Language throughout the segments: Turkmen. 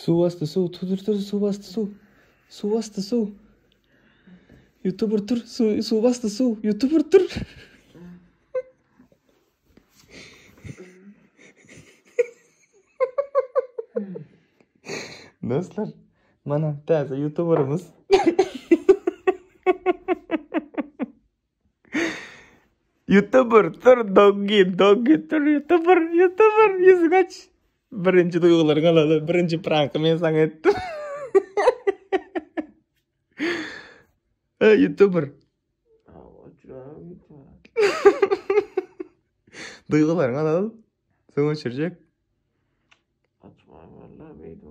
Suwasty suw tu tur tur suwasty suw suwasty suw Youtuber tur suw suwasty suw Youtuber tur Dostlar, mana täze youtuberimiz. Youtuber tur doggy doggy tur youtuber youtuber ýüzü gaç. Birinji duýgularyňy alaly. Birinji pranky men saňa etdim. Ha youtuber. Duýgularyňy alaly. Soň öçürjek. Açma vallahi beýdip.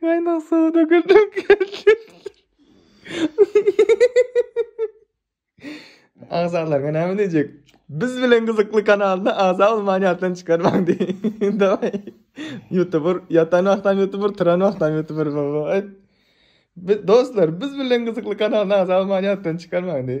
Gaynak suw dökülüp geldi. Agzalarga näme diyecek? Biz bilen gyzykly kanalda agza olman ýatdan çykarmaň diý. Daway. YouTuber ýatan wagtam YouTuber, turan wagtam YouTuber baba. Biz dostlar, biz bilen gyzykly kanalda agza olman ýatdan çykarmaň diý.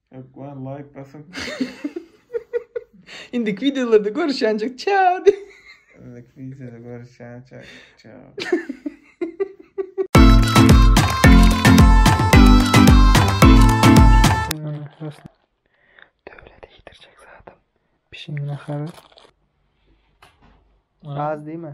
Ökman like basyň. Indiki videolarda görüşýänjik. Çao. Indiki videoda görüşýänjik. Çao. Döwlet iýdirjek zadam. Pişiň nahary. Az diýme.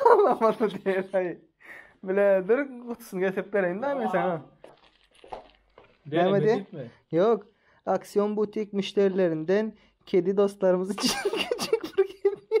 Halamaly däl-aý. Bile dur, gutusyny getirip bereýin-dä men saňa. Näme diýip? Ýok. Aksion butik müşderilerinden kedi dostlarymyz üçin küçük bir hediýe.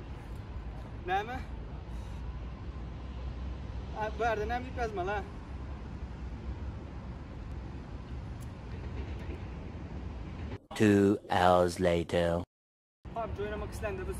Näme? Bu ýerde näme diýip ýazmaly? Two hours later. Pap joýnamak islende biz.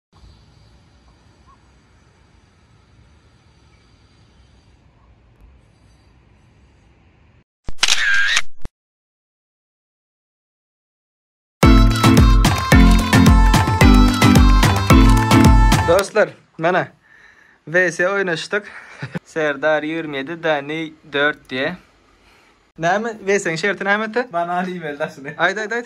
Dostlar, mana VS oynaşdyk. Serdar 27 Dani 4 diye. Näme VS-iň şerti näme ete? Bana iýmeli daşyny. Aýt aýt aýt.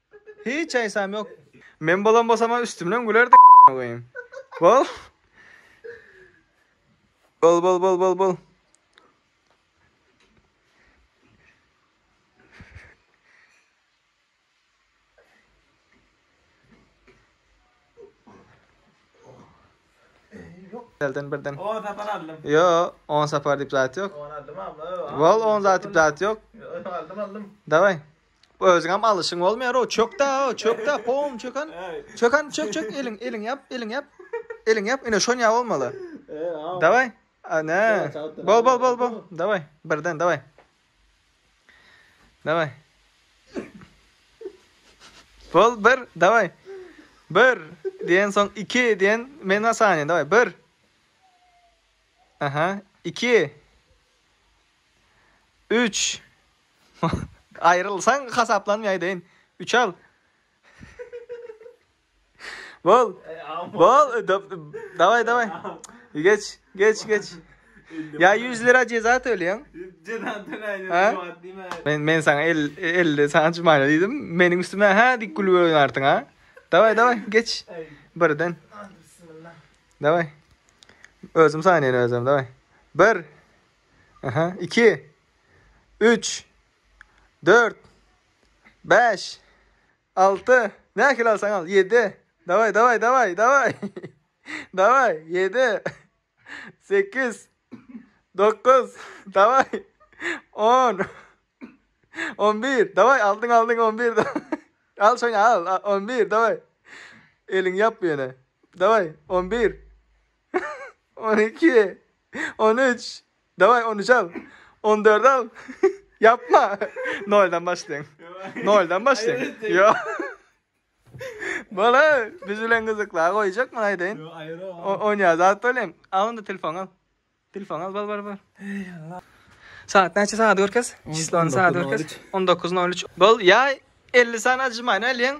Hiç aýsam ýok. Men bolan bolsama üstümden gülerdi a**na goýayim. Bol. Bol bol bol bol bol. Elden birden. 10 sapar aldım. Yo 10 sapar dip zat yok. 10 aldım abla. Bol 10 zat dip zat yok. Aldım aldım. Davay. Özüňem alyşyň bolmaýar-ow, çök-da-ow, çök-da, pom, çök han. Çök han, çök, çök, eliň, eliň ýap, eliň ýap. Eliň ýap, ine şon ýaly bolmaly. Daway. Ana. Bol, bol, bol, bol. Daway, birden, daway. Daway. Bol, bir, daway. Bir, diýen soň iki, diýen men asany, daway, bir. Aha, iki. Üç. Aýrylsaň hasaplanmaýaýdyn. Üç al. Bol. Bol. Dawaý, dawaý. Geç, geç, geç. Ýa ýüz lira jeza töleýäň. Jeza töläýjek wagt diýme. Men men saňa el elde saňa çymaýna diýdim. Meniň üstüme hä dik gülüp oýnarsyň ha. Dawaý, dawaý, geç. Birden. Dawaý. Özüm saýnaýyn özüm, dawaý. Bir. Aha, iki. Üç. Dört. Bäş. Alty. Nähili alsaň al. Ýedi. Dawaý, dawaý, dawaý, dawaý. Dawaý, ýedi. Sekiz. Dokuz. Dawaý. On. On bir. Dawaý, aldyň, aldyň, on bir. Al şony, al. On bir, dawaý. Eliňi ýap bu ýene. Dawaý, on bir. On iki. On üç. Daway on üç al. On dört al. Yapma. Noldan başlaýyn. Noldan başlaýyn. Yo. Bala, biz bilen gyzykla goýjak mı aýdaýyn? Yo, aýra. On ýa zat bolýan. A onda telefon al. Telefon al, bar bar bar. Saat näçe saat görkez? Çislony saat görkez. 19.03. Bol, ýa 50 sany ajymaýyn alýan.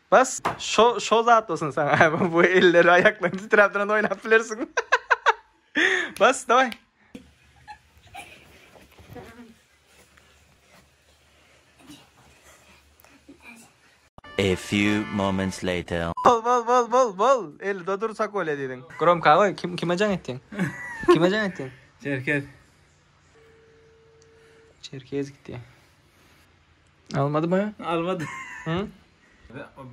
Bas şo şo zat bolsun saňa bu elleri aýaklary titräp duran oýnap bilersiň. Bas daway. A few moments later. Bol bol bol bol bol. El dodur sakol ediň. Gromka goý kim kime jaň etdiň? Kime jaň etdiň? Çerkez. Çerkez gitdi. Almadı mı? Almadı. Hı?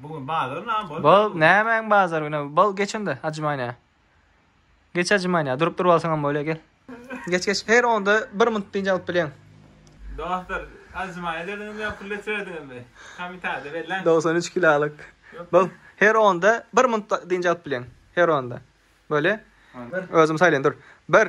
Bugün bazar nam bol. Bol nämäň bazar güne? Bol geçin de acımayna. Geç acımayna. Durup durup alsaňam böyle gel. Geç geç. Her onda bir minut birinci alıp bilen. Doktor acımayna dediniz ya pul etmediniz mi? Komitada belli. 93 kilalık. Bol her onda bir minut birinci alıp bilen. Her onda. Böyle. Özüm saylayın dur. Bir.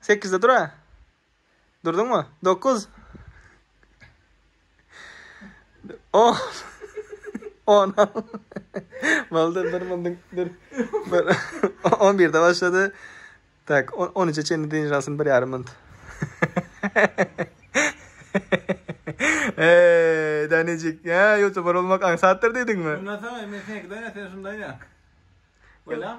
Sekizde dur-a. Durduňmy? Dokuz. On. On. Boldy, bir mundyň, bir. bir. On birde başlady. Tak, on, on üçe çenli dynç alsyn bir ýarym munt. Eee, Danijik, ya, youtuber olmak aňsatdyr diýdiňmi? Ondan soň, men seňkiden sen şundan ýak. Bolam.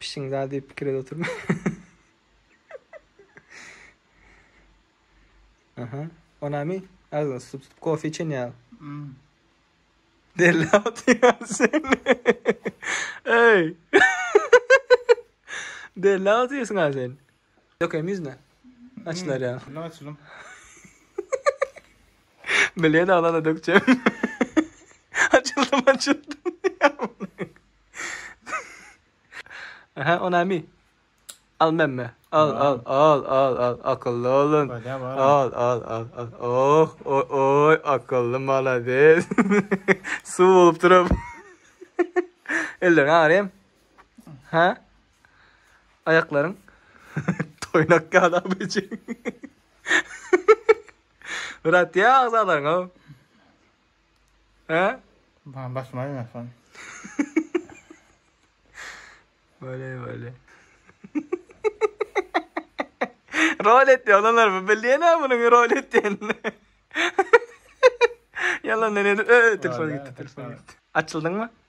Pişiň zady diýip pikir edip oturma. Aha. O näme? Agzyňy tutup tutup kofe içen ýaly. Hmm. Deli atýan sen. Ey. Deli atýasyň sen. Dökeýin ýüzüne. Açylar ýa. Şunda açylym. Bilýän aglana dökjek. Açyldym açyldym. Aha o nämi? Al memme. Al al al al al akylly olun. Al al al al. Oh oy oy akylly malades. Suw bolup durup. Ellerini agarayım. Ha? Aýaklaryň toýnak ýaly abyjyň. Brat ýa agzalaryň o. He? Bana basma ýa sen. Böyle böyle. rol etdi olanlar bu bilýän ha munuň rol etdiýenini. Yalan ne öö telefon gitti telefon gitti. Açyldyňmy?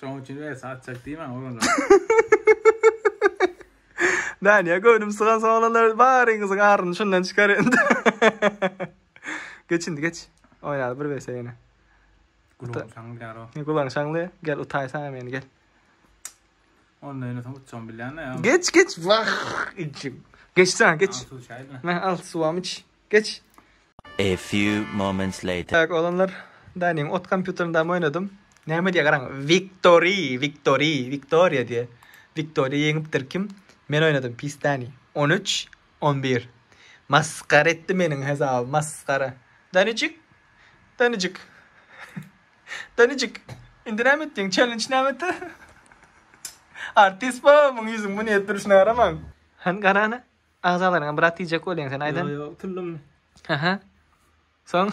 Şoň üçin we saat çek diýmän oglanlar. Näni ya göwnüm sygan soňlanlar baryňyzyň aryny şundan çykar indi. geç indi geç. Oýnaly bir bese ýene. Gulaň şaňly garo. Ne gulaň şaňly gel utaýsaň meni gel. Onda ýene soň utjam bilýän ya. Geç geç vah içim. Geç sen geç. Al suwam iç. Geç. A few moments later. Tak oglanlar Danyň ot kompýuterindam oýnadym. Näme diýýär garaň Wiktory Wiktory Wiktoriýa diýýär. Wiktoriýa ýeňipdir kim? Men oýnadym pis Dany. On üç on bir. Masgara etdi meniň hesabymy masgara. Danyjyk Danyjyk Danyjyk indi näme etdiň çellenç näme etdi Artist baba muň ýüzüň bu nädip durşuna garamaň. Hany garana Agzalaryňa brat diýjek bolýaň sen aýdan. Ýo ýo utuldym. Aha. Soň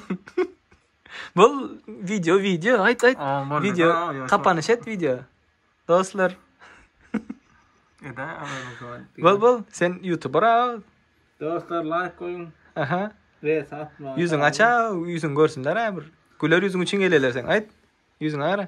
Bol video video aýt aýt. Video kapanyş et video. Dostlar. Eda aýdan soň. Bol bol sen youtuber a. Dostlar like goýuň. Aha. Ve satma. Ýüzüň aça, ýüzüň görsünler a bir. Güler ýüzüň üçin geleler sen aýt. Ýüzüň ara.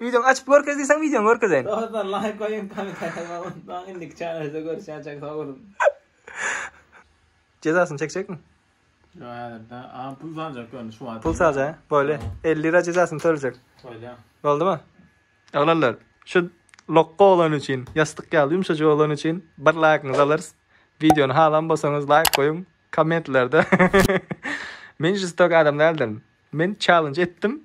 Wideoňy açyp görkez diýseň wideoňy görkezeýin. Dostlar laýk goýuň komentarýa ýazmagy unutmaň indiki çärede görüşýänçäk sag boluň. Jezasyny çekjekmi? Ýok häzirde a pul saljak ýöne şu wagt. Pul salja bolýa 50 lira jezasyny töljek. Bolýa. Boldymy? Oglanlar şu lokga oglan üçin ýassyk ýaly ýumşajyk oglan üçin bir laýkyňyzy alarys. Wideony halan bolsaňyz laýk goýuň kommentlerde. Men žestok adam däldirin. Men çallenj etdim.